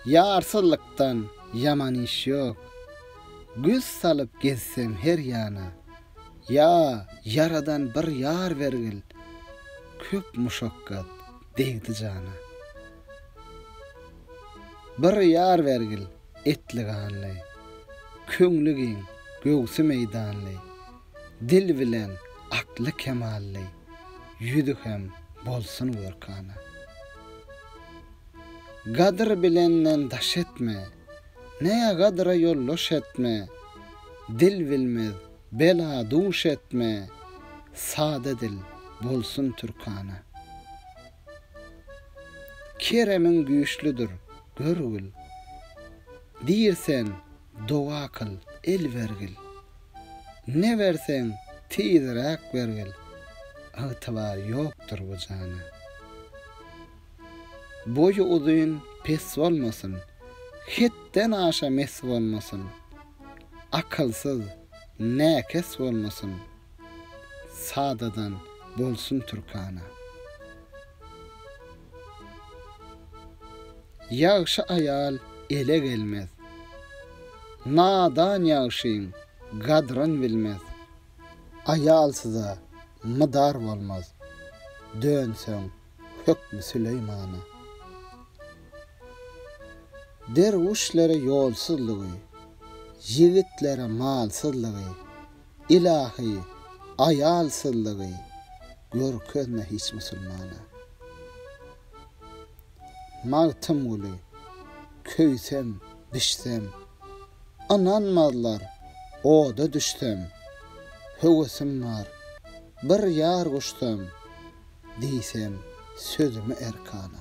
Ýarsylykdan ýaman iş ýok. Göz salyp gezsem her ýana. Ýa, Ýaradan bir ýar bergil. Köp muşakgat degdi jana. Bir ýar bergil. etli-ganly, Köňli giň, göwsi meýdanly, Dil bilen akly-kemally, Ýüzi hem bolsun görkana. Gadyr bilenden daş etme, Nägadyra ýoldaş etme, Dil bilmez bela duş etme, Sada dil bolsun türkana. Keremiň güýçlüdir, görgül. Diýrsen, doga kyl, el bergil. Ne berseň, tizräk bergil. Ygtybar ýokdur bu jana. Boýy uzyn, pes bolmasyn. Hetden aşa mes bolmasyn. Akylsyz, näkes bolmasyn. sadadan bolsun türkana. Ýagşy aýal ele gelmez. Nadan ýagşyň gadryn bilmez. Aýalsyza mydar bolmaz. Dönseň hökmi Süleýmana. Derwüşlere ýolsuzlygy. Ýigitlere malsyzlygy. Ylahy, aýalsyzlygy görkezme hiç musulmana. Magtymguly, köýsem, bişsem, ynanmazlar, oda düşsem, höwesim bar, bir ýar guşsam, diýsem sözümi erkana.